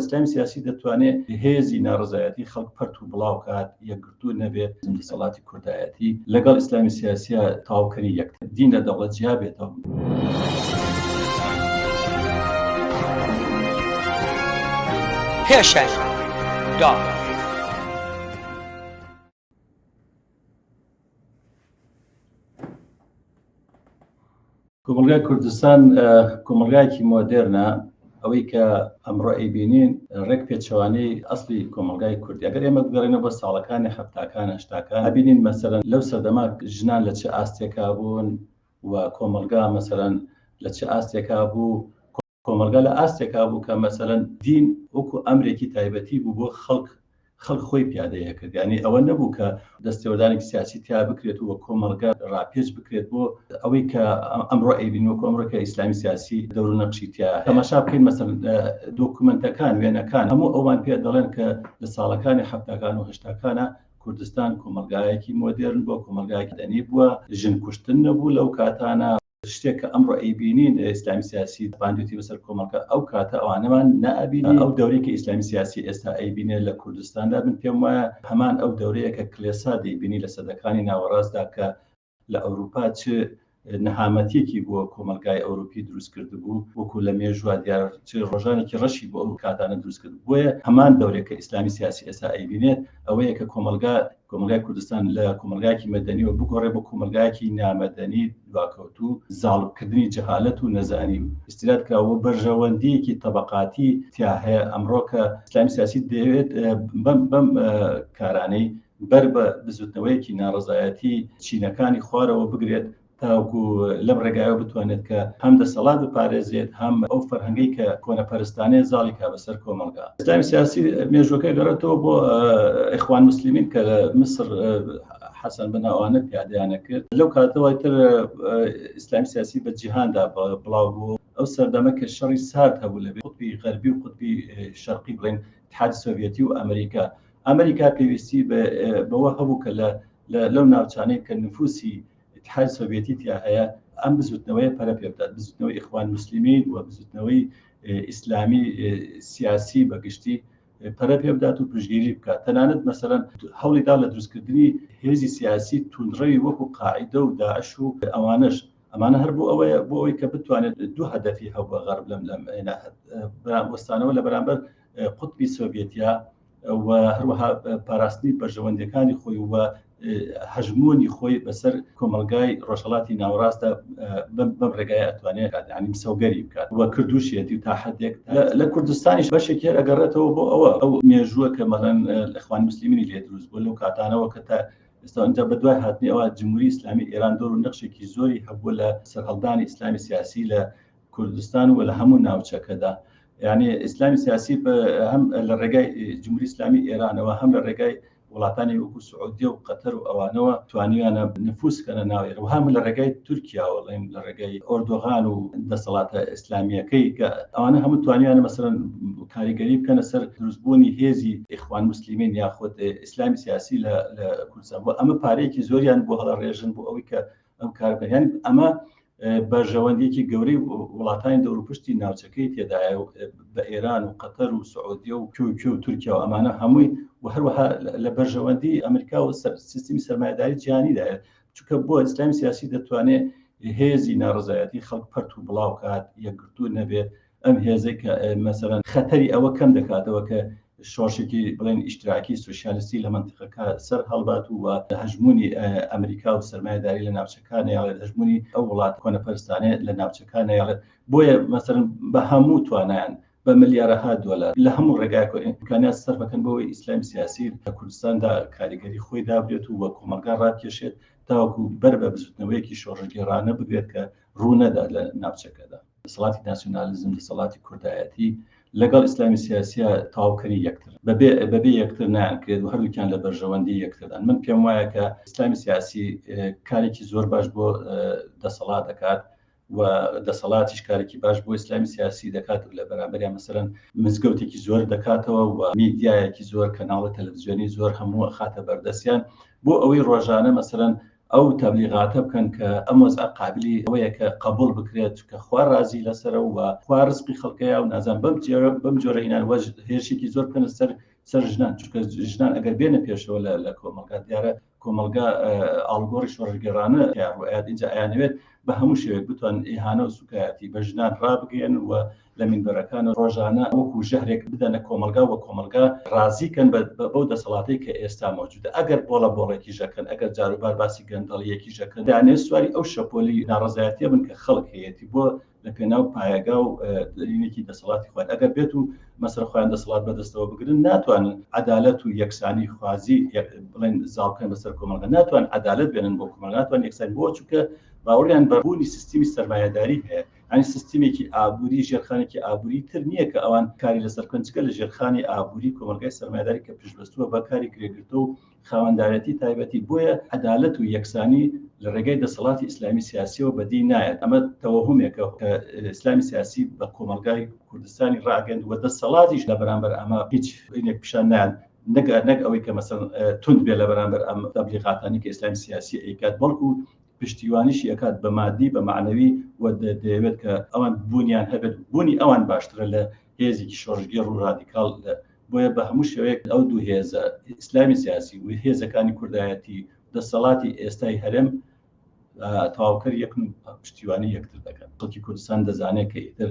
ئیسلامی سیاسی دەتوانێت هێزی ناڕەزایەتی خەڵک پەرت و بڵاو کات، یەکگرتوو نەبێت، دەسەڵاتی کوردایەتی لەگەڵ ئیسلامی سیاسییە تەواوکەری یەکتر، دین لە دەوڵەت جیا بێتەوە. پێشەنگ، داڕ. کۆمەڵگای کوردستان کۆمەڵگایکی مۆدررنە ئەوەی کە ئەمڕۆ ئەیبینین ڕێک پێچوانی ئەسلی کۆمەلگای کوردی ئەگەر ئێمە بگەڕێنە بە ساڵەکانی هەفتاکان هەشتاکان بینین مەسەرەن لەو سەردەما ژنان لە چه ئاستێکا بوون و کۆمەلگا مەسەرەن لە چه ئاستێکا بوو کۆمەڵگا لە ئاستێکا بوو کە مەسەلەن دین وەکو ئەمرێکی تایبەتی بوو بۆ خەڵک، خەڵک خۆی پیادەی ئەکرد، یانی ئەوە نەبوو کە دەستێوەردانێکی سیاسی تیا بکرێت و کۆمەڵگا ڕاپێچ بکرێت بۆ ئەوەی کە ئەمڕۆ ئەیبینین وەکو ئەمڕۆ کە ئیسلامی سیاسی دەور و نەقشی تیا هەیە. تەماشا بکەین مەسەلەن دۆکومێنتەکان، وێنەکان هەموو ئەوان پێ دەڵێن کە لە ساڵەکانی حەفتاکان و هەشتاکانا کوردستان کۆمەڵگایەکی مۆدێرن بووە، کۆمەڵگایەکی مەدەنی بووە، ژن کوشتن نەبوو لەو کاتانا، شتێک کە ئەمڕۆ ئەیبینین ئیسلامی سیاسی باندێتی بەسەر کۆمەڵگە ئەو کاتە ئەوانەمان نابینی ئەو دەورەی کە ئیسلامی سیاسی ئێستا ئەیبینێ لە کوردستاندا من پێم وایە هەمان ئەو دەورەیە کە کلێسا دەیبینی لە سەدەکانی ناوەڕاستدا کە لە ئەوروپا چ نەهامەتیەکی بۆ کۆمەلگای ئەوروپی دروست کرد بوو وەکو لە مێژوا دیار چ ڕۆژانێکی ڕەشی بۆ ئەو کاتانە دروست کرد بۆیە هەمان دەورێک کە ئیسلامی سیاسی ئێستا ئەیبینێت ئەوەیە کە کۆمەلگا کۆمەڵگای کوردستان لە کۆمەڵگایەکی مەدەنیەوە بگۆڕێ بۆ کۆمەلگایەکی نامەدەنی دواکەوتوو زاڵبکردنی جەهالەت و نەزانی و ئیستیراد کراوە بەرژەوەندیەکی تەبەقاتی تیا هەیە ئەمڕۆ کە ئیسلامی سیاسی دەیەوێت بەم بەم کارانەی بەر بە بزوتنەوەیەکی ناڕەزایەتی چینەکانی خوارەوە بگرێت تاوەکو لەم ڕێگایەوە بتوانێت کە هەم دەسەڵات بپارێزێت هەم ئەو فەرهەنگەی کە کۆنەپەرستانەیە زاڵی کا بەسەر کۆمەڵگا ئیسلامی سیاسی مێژوەکە گەڕێتەوە بۆ ئیخوان مسلمین کە لە میسر حەسەن بەناوانە پیادیانە کرد لەو کاتەوەی تر ئیسلام سیاسی بە جیهاندا بڵاو بوو ئەو سەردەمە کە شەڕی سارد هەبوو لە قوتبی غەربی و قوتبی شەرقی بڵێن تحاد سۆڤەتی و ئەمریکا ئەمریکا پێویستی بەوە هەبوو کە لە لەو ناوچانەی کە نفوسی ئیتحاد سۆڤێتی تیا هەیە ئەم بزوتنەوەی پەرە پێ بدات بزوتنەوەی ئیخوان مسلمین و بزوتنەوەی ئیسلامی سیاسی بەگشتی پەرە پێ بدات و پشگیری بکات تەنانەت مەسەرەن هەوڵیدا لە دروستکردنی هێزی سیاسی تونڕەوی وەکو قاعدە و داعش و ئەوانش ئەمانە هەر بۆ ئەوەیە بۆ ئەوی کە بتوانێت دوو هەدەفی هەبووە غەرب لەم لەم وەستانەوە لە بەرامبەر قوتبی سۆڤێتیا و هەروەها پاراستنی بەرژەوەندەکانی خۆی و هەژمونی خۆی بەسەر کۆمەلگای ڕۆژهڵاتی ناوڕاستە بەم ڕێگای ئەتوانێت ینیم سەوگەری بکات وە کردوشیەتی و تا حدێک لە کوردستانیش بەشێک هێر ئەگەڕێتەوە بۆ ئەوە ئەو مێژووە کە مەلەن لەخوان مسللیمینی لێ دروست بۆ لەو کاتانەوە کە تا ئستا ئەجا بە دوای هاتنی ئەوە جمهوری ئسلامی ئێران دۆر و نەخشێکی زۆری هەبوو لە سەرهەڵدانی ئسلامی سیاسی لە کوردستان و لە هەموو ناوچەکەدا یعنی ئیسلامی سیاسی هەم لە ڕێگای جمهوری ئسلامی ئێرانەوە هەم لە ڕێگای وڵاتانی وەکو سعودیە و قەتەر و ئەوانەوە توانیانە نفوس کەە ناوێر و هەم لە ڕێگای تورکیاوەڵێن لە ڕێگای ئۆردۆغان و دەسەڵاتە ئیسلامیەکەی کە ئەوانە هەموو توانیانە مەسەرەن کاریگەری بکەنە سەر دروستبوونی هێزی ئیخوان مسللیمین یاخود ئیسلامی سیاسی لە کوردستان بۆ ئەمە پارەیەکی زۆریان بۆ هەڵە ڕێژن بۆ ئەوی کە ئەم کار بەیان ئەمە بەرژەوەندێکی گەورەی وڵاتانی دەوروپشتی ناوچەکەی تێدایە و بە ئێران و قەتەر و سعودیە و کوکە و تورکیا و ئەمانە هەمووی و هەروەها لە بەرژەوەندی ئەمریکا و سیستمی سەرمایداری جیانیدایە چکە بۆ ئیسلامی سیاسی دەتوانێت هێزی ناڕزایەتی خەڵک پەرت و بڵاوکات یەکگرتوو نەبێت ئەم هێزەی کە مەسەرەن خەتەری ئەوە کەم دەکاتەوە کە شۆشێکی بڵێن ئیشتراکی سوسیالستی لە منتیقەکە سەر هەڵبات و هەژمونی ئەمریکا و سەرمایداری لە ناوچەکانی یاڵێت هەژمونی ئەو وڵات کۆنە پەرستانێت لە ناوچەکانی یاڵێت بۆیە مەسەر بە هەموو توانیان بە ملیارەها دۆلار لە هەموو ڕێگاکۆن ئیمکانات سەرفەکەن بۆی ئیسلامی سیاسی لە کوردستاندا کاریگەری خۆی دابێت و وە کۆمەلگا ڕاکێشێت تاوەکو بەر بە بزوتنەوەیەکی شۆڕژگێڕانە بگرێت کە ڕوونەدا لە ناوچەکەدا دەسەڵاتی ناسیۆنالیزم دەسەڵاتی کوردایەتی لەگەڵ ئیسلامی سیاسیە تاوکەری یەکتر بەبێ بەبێ یەکتر نانکرێت و هەردووکیان لە بەرژەوەندی یەکتردان من پێم وایە کە ئیسلامی سیاسی کارێکی زۆر باش بۆ دەسەڵات دەکات و دەسەڵاتیش کارێکی باش بۆ ئیسلامی سیاسی دەکات و لە بەرامبەریان مەسەرەن مزگەوتێکی زۆر دەکاتەوە و میدیایەکی زۆر کەناڵە تەلەڤزیۆنی زۆر هەموو خاتە بەردەستیان بۆ ئەوەی ڕۆژانە مەسەرەن ئەو تەبلیغاتە بکەن کە ئەم وەزعە قابلی ئەوەیە کە قەبوڵ بکرێت چونکە خوا ڕازی لەسەرە و خوا ڕزقی خەڵکەیە و نازان بەم جۆرە بەم جۆرە ئینان وەج هێرشێکی زۆر بکەنە سەر سەر ژنان چونکە ژنان ئەگەر بێنە پێشەوە لە لە کۆمەڵگا دیارە کۆمەڵگا ئاڵگۆڕی شۆڕگەرانە تیاڕوئات ئینجا ئەیانەوێت بە هەموو شێوێک بتوان ئیهانە و سوکایەتی بە ژنان ڕابگەیەن و لە مینبەرەکان ڕۆژانە وەکو ژەهرێک بدەنە کۆمەڵگا و کۆمەڵگا ڕازی کەن بەو دەسەڵاتەی کە ئێستا مەوجودە ئەگەر بۆڵە بۆڵێکیش ئەکەن ئەگەر جاروبار باسی گەندەڵیەکیش ئەکەن دانێ سواری ئەو شەپۆلی ناڕەزایەتیە بن کە خەڵک هەیەتی بۆ لە پێناو پایەگا و دەرینێکی دەسەڵاتی خوارد ئەگەر بێت و مەسەر خۆیان دەسەڵات بەدەستەوە بگرن ناتوانن عدالەت و یەکسانی خوازی بڵێن زاڵکەن بەسەر کۆمەڵگە ناتوان عدالەت بێنن بۆ کۆمەڵ ناتوان یەکسان بۆ چووکە باوەڕیان بەبوونی سیستمی سەرمایهداری هەیە یانی سیستمێکی ئابووری ژێرخانێکی ئابووری تر نییە کە ئەوان کاری لەسەر بکەن جگە لە ژێرخانی ئابووری کۆمەلگای سەرمایداری کە پشتبەستووە بە کاری کرێگرتە و خاوەندارەتی تایبەتی بۆیە عەدالەت و یەکسانی لە ڕێگەی دەسەڵاتی ئیسلامی سیاسیەوە بەدی نایەت ئەمە تەوەهمێکە کە ئیسلامی سیاسی بە کۆمەلگای کوردستانی ڕاگەند و دەسەڵاتیش لە بەرامبەر ئەمە هیچ هینێک پیشان نایەن نەگەر نەک ئەوەی کە مەسەن تونند بێ لە بەرامبەر ئەم تەبلیغاتانی کە ئیسلامی سیاسی ئەیکات بەڵکو پشتیوانیشی ئەکات بە مادی بە مەعنەوی و دەیەوێت کە ئەوان بوونیان هەبێت بوونی ئەوان باشترە لە هێزێکی شۆڕشگێڕ و ڕادیکاڵ لە بۆیە بە هەموو شێوەیەک ئەو دوو هێزە ئیسلامی سیاسی و هێزەکانی کوردایەتی دەسەڵاتی ئێستای هەرێم تەواوکەر یەکن پشتیوانی یەکتر دەکەن خەڵکی کوردستان دەزانێت کە ئیتر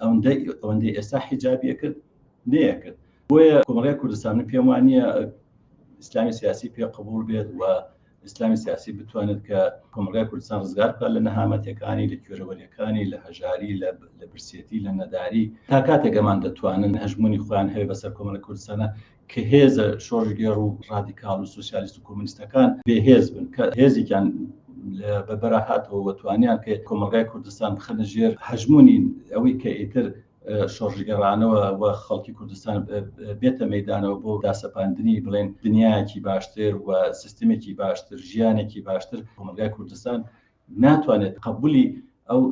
ئەوەندەی ئێستا حیجابی ئەکرد نەیەکرد بۆیە کۆمەڵگای کوردستان من پێم وان نییە ئیسلامی سیاسی پێ قبول بێت و ئیسلامی سیاسی بتوانێت کە کۆمەلگای کوردستان ڕزگار بکات لە نەهامەتەکانی لە کوێرەوەریەکانی لە هەژاری لە برسێتی لە نەداری تا کاتێک ئەمان دەتوانن هەژمونی خۆیان هەیە بەسەر کۆمەلە کوردستانە کە هێزە شۆڕشگێڕ و ڕادیکاڵ و سۆسیالیست و کۆمۆنیستەکان بێهێز بن، کە هێزێکیان لە بەرا هاتەوە و توانیان کە کۆمەڵگای کوردستان بخەنە ژێر هەژموونی ئەوەی کە ئیتر شۆڕشگێڕانەوە و خەڵکی کوردستان بێتە مەیدانەوە بۆ داسەپاندنی بڵێن دنیایەکی باشتر و سیستمێکی باشتر، ژیانێکی باشتر کۆمەڵگای کوردستان ناتوانێت قەبولی ئەو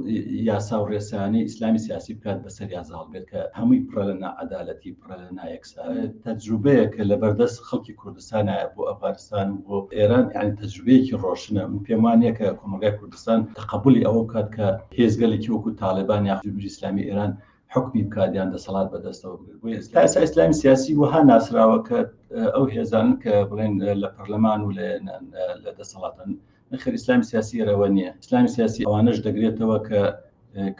یاسا و ڕێسایانەی ئیسلامی سیاسی بکات بەسەریا زاڵ بێت کە هەمووی پڕە لە ناعەدالەتی پڕە لە نایەکسا تەجروبەیە کە لە بەردەست خەڵکی کوردستانایە بۆ ئەفغانستان و بۆ ئێران یان تەجروبەیەکی ڕۆشنە من پێم وانە کە کۆمەلگای کوردستان تەقبولی ئەوە بکات کە هێزگەلێکی وەکو تاالبان یا جمهوری ئیسلامی ئێران حکمی بکاتیان دەسەڵات بەدەستەوە بگرێت بۆ ئێستا ئێستا ئیسلامی سیاسی وەها ناسراوە کە ئەو هێزان کە بڵێن لە پەرلەمان و لە دەسەڵاتن نەخێر ئیسلامی سیاسی ئێرەوە نییە ئیسلامی سیاسی ئەوانەش دەگرێتەوە کە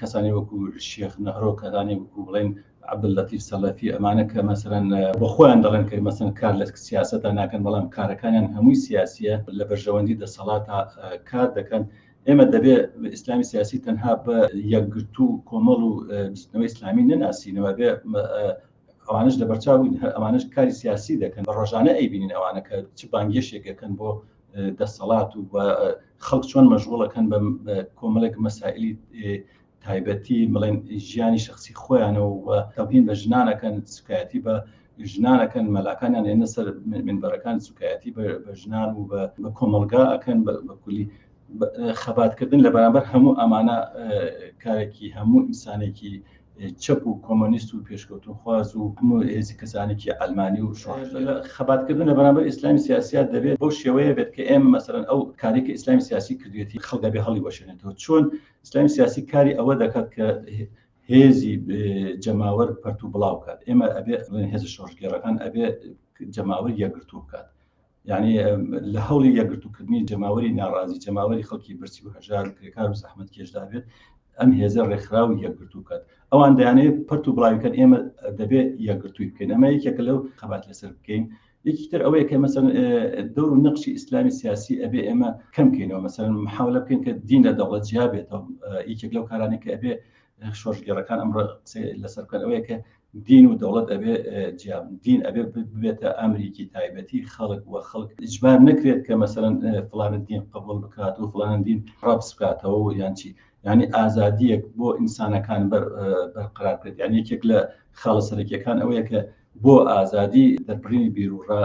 کەسانی وەکو شێخ نەهرۆ کەدانی وەکو بڵێن عبل لەتیف سەلەفی ئەمانە کە مەسەرەن بە خۆیان دەڵێن کە مەسن کار لە سیاستە ناکەن بەڵام کارەکانیان هەمووی سیاسیە لە بەرژەوەندی دەسەڵات کار دەکەن ئێمە دەبێ ئیسلامی سیاسی تەنها بە یەکگرتو و کۆمەڵ و بستنەوەی ئسلامی نەناسینەوە بێ ئەوانش لە بەرچاوین هەر ئەمانش کاری سیاسی دەکەن بە ڕۆژانە ئەیبینین ئەوانەکە چ بانگێشێکەکەن بۆ دەسەڵات و خەڵک چۆن مەژغوڵەکەن بە کۆمەلێک مەسائلی تایبەتی بڵێن ژیانی شخصی خۆیانەوە و تەبین بە ژنانەکەن سوکایەتی بە ژنانەکەن مەلاکانیان ێنە سەر منبەرەکان سوکایەتی بە ژنان و بە کۆمەلگا ئەکەن بەکولی خەباتکردن لە بەرامبەر هەموو ئەمانە کارێکی هەموو ئینسانێکی چەپ و کۆمۆنیست و پێشکەوتنخواز و هەموو هێزی کەسانێکی عەلمانی و شۆڕشگێڕ خەباتکردن لە بەرامبەر ئیسلامی سیاسییە دەبێت بەو شێوەیە بێت کە ئێمە مەسەلەن ئەو کارەی کە ئیسلامی سیاسی کردوێتی خەڵک دەبێ هەڵیوەشێنێتەوە چۆن ئیسلامی سیاسی کاری ئەوە دەکات کە هێزی جەماوەر پەرت و بڵاو بکات ئێمە ئەبێ هێز شۆڕشگێڕەکان ئەبێ جەماوەر یەکگرتوو بکات یانی لە هەوڵی یەکگرتووکردنی جەماوەری ناڕازی جەماوەری خەڵکی برسی و هەژار و کرێکار و زەحمت کێشدا بێت ئەم هێزە ڕێکخراو یەکگرتو بکات ئەوان دەیانێت پرت و بڵاویکەن ئێمە دەبێت یەکگرتووی بکەین ئەمە یەکێکە لەو خەبات لەسەر بکەین یەکیتر ئەوەیە کە مەسەن دەور و نەقشی ئیسلامی سیاسی ئەبێ ئێمە کەم بکەینەوە مەسەن محاولە بکەین کە دین لە دەوڵەت جیا بێتەوە یەکێک لەو کارانێک کە ئەبێ شۆرشگێڕەکان ئەمڕۆ قسەی لەسەر بکەن ئەوەیە کە دین و دەوڵەت ئەبێ جیاب دین ئەبێ ببێتە ئەمریکی تایبەتی خەڵک و خەڵک ئیجبار نەکرێت کە مەسەرەن فلانە دین قبول بکات و فلانە دین ڕەبس بکاتەوە و یان چی ینی ئازادیەک بۆ ئینسانەکان بەرقرار کرد یان یەکێک لە خاڵە سەرەکیەکان ئەوەیە کە بۆ ئازادی دەربڕینی بیروڕا،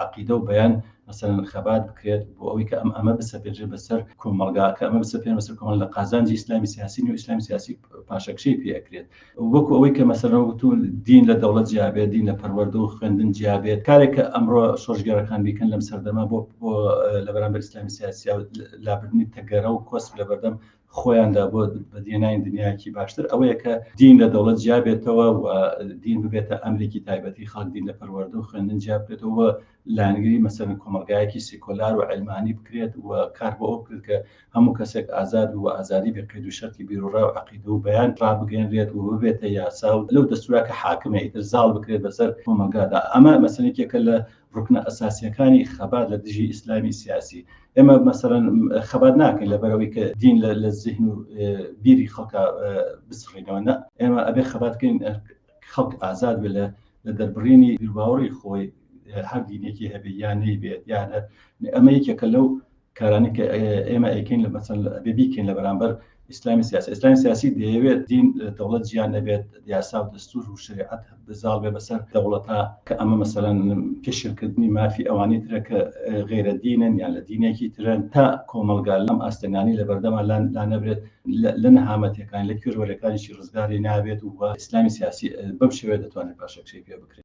عەقیدە و بەیان، مەسەلەن خەبات بکرێت، بۆ ئەوەی کە ئەم ئەمە بسەپێنرێت بە سەر کۆمەڵگا، کە ئەمە بسەپێنرێت بەسەر کۆمەڵگا لە قازانجی ئیسلامی سیاسی نیە و ئیسلامی سیاسی پاشەکشەی پێ ئەکرێت. وەکو ئەوەی کە مەسەلەن وەکوتوو دین لە دەوڵەت جیا بێت، دین لە پەروەردە و خوێندن جیا بێت، کارێک کە ئەمڕۆ شۆڕشگێڕەکان بیکەن لەم سەردەمە بۆ لە بەرامبەر ئیسلامی سیاسی و لابردنی تەگەرە و کۆسپ لە بەردەم خۆیاندا بۆ بەدیهێنانی دنیایەکی باشتر ئەوەیە کە دین لە دەوڵەت جیابێتەوە و دین ببێتە ئەمرێکی تایبەتی خەڵک دین لە پەروەردە و خوێندن جیابکرێتەوە لایەنگری مەسەرن کۆمەلگایەکی سیکۆلار و عەلمانی بکرێت و کار بۆ ئەو بکرێت کە هەموو کەسێک ئازاد و ئازادی بێ قەید و شەرتی بیروڕا و عەقیدە و بەیان ڕابگەێنرێت و ببێتە یاسا و لەو دەستورا کە حاکمە ئیتر زاڵ بکرێت بەسەر کۆمەلگادا ئەمە مەسەلێکێکە لە ڕوکنە ئەساسیەکانی خەبات لە دژی ئیسلامی سیاسی ئێمە مەسەرەن خەبات ناکەین لە بەرەوەی کە دین لە زیهن و بیری خەڵکە بسڕینەوە نە ئێمە ئەبێ خەباتکەین خەڵک ئازاد بێ لە لە دەربڕینی بیرباوەڕی خۆی هەر دینێکی هەبێ یان نەیبێت یان هەر ئەمە یەکێکە لەو کارانەی کە ئێمە ئەیکەین لە مەسەن ئەبێ بیکەین لە بەرامبەر ئیسلامی سیاسی ئیسلامی سیاسی دەیەوێت دین دەوڵەت جیان نەبێت یاسا و دەستور و شریعەت بزاڵ بێ بەسەر دەوڵەتا کە ئەمە مەسەلەن پێشلکردنی مافی ئەوانی ترە کە غێرە دینن یان لە دینێکی ترن تا کۆمەلگا لەم ئاستەنانی لە بەردەمان لان لانەبرێت لە نەهامەتەکان لە کوێروەرەکانیشی ڕزگاری نابێت و ئیسلامی سیاسی بەم شێوێ دەتوانێت پاشەکشەی پێ بکرێت